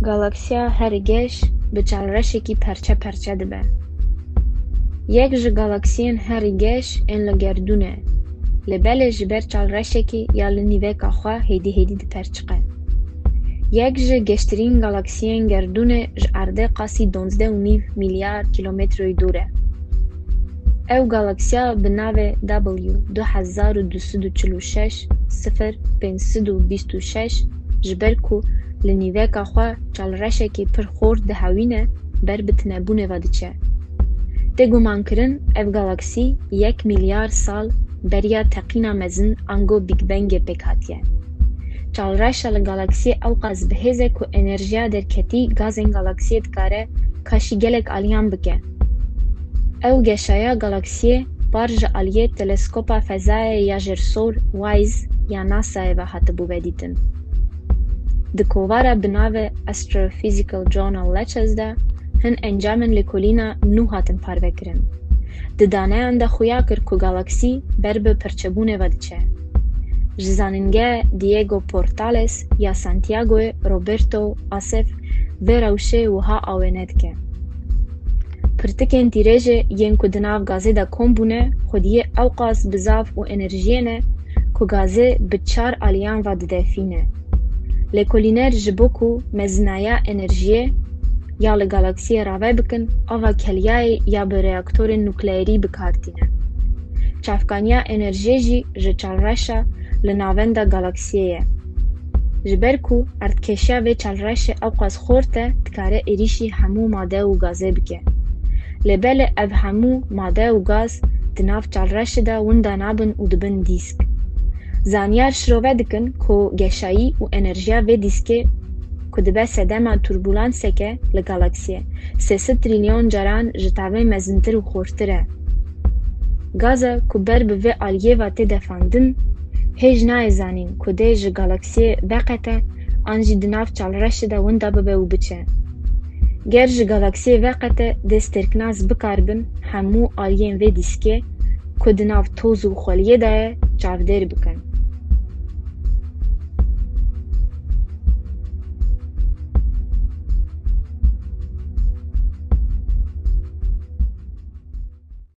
Galaksiya her geş bi çend reşekî perçe perçe dibe. Yek ji galaksiyên herî geş ên li gerdûn e, lê belê ji ber çal reşekê ya li nîveka xwe hêdî hêdî diperçiqe. Yek ji geştirîn galaksiyên gerdûnê ji erdê qasî donzdeh û nîv mîlyar kîlometroyî dûr e. Ew galaksiya bi navê W du hezar û du sed û çil û şeş şeş sifir pênc sed û bîst û şeş ji ber ku li nîveka xwe çalreşekî pir xor dihewîne ber bi tinebûnê ve diçe. Tê gumankirin ev galaksî yek mîlyar sal beriya teqîna mezin ango Big Bangê pêk hatiye. Çalreşa li galaksiyê ewqas bi hêz e ku enerjiya derketî gazên galaksiyê dikare kaşî gelek aliyan bike. Ew geşaya galaksiyê par ji aliyê Teleskopa Fezayê ya Jêrsor, WISE, ya NASA'yê ve hatibû vedîtin. Di kovara bi navê Astrophysical Journal Letters de hin encamên lêkolîna nû hatin parvekirin. Di daneyan de xuya kir ku galaksî ber bi pirçebûnê ve diçe. Ji zanîngeha Diego Portales ya Santiagoyê Roberto Asef vê rewşê wiha awêne dike. Pirtikên tîrêjê yên ku di nav gazê de kom bûne xwediyê ewqas bi zaf û enerjiyê ne ku gazê bi çar aliyan ve didefîne. Lêkolîner ji bo ku mezinaya enerjiyê ya li galaksiyê rave bikin ava kelyayê ya bi reaktorên nukleerî bi kar tîne. Çavkaniya enerjiyê jî ji çalreşa li navenda galaksiyê ye. Ji ber ku erdkêşiya vê çalreşê ewqas xort e, dikare êrîşî hemû made û gazê bike. Lê belê ev hemû made û gaz di nav çalreşê de winda nabin û dibin dîsk. Zanyar şirove dikin ku geşayî û enerjiya vê dîskê ku dibe sedema turbulanseke li galaksiyê, sê sed trîlyon caran ji tavê mezintir û xortir e. Gaza ku ber bi vê alyêva tê defandin, hêj nayê zanîn ku dê ji galaksiyê veqete an jî di nav çalreşê de winda bibe û biçe. Ger ji galaksiyê veqete dê stêrknas bikaribin hemû alyên vê dîskê ku di nav toz û xweliyê de ye çavdêr bikin.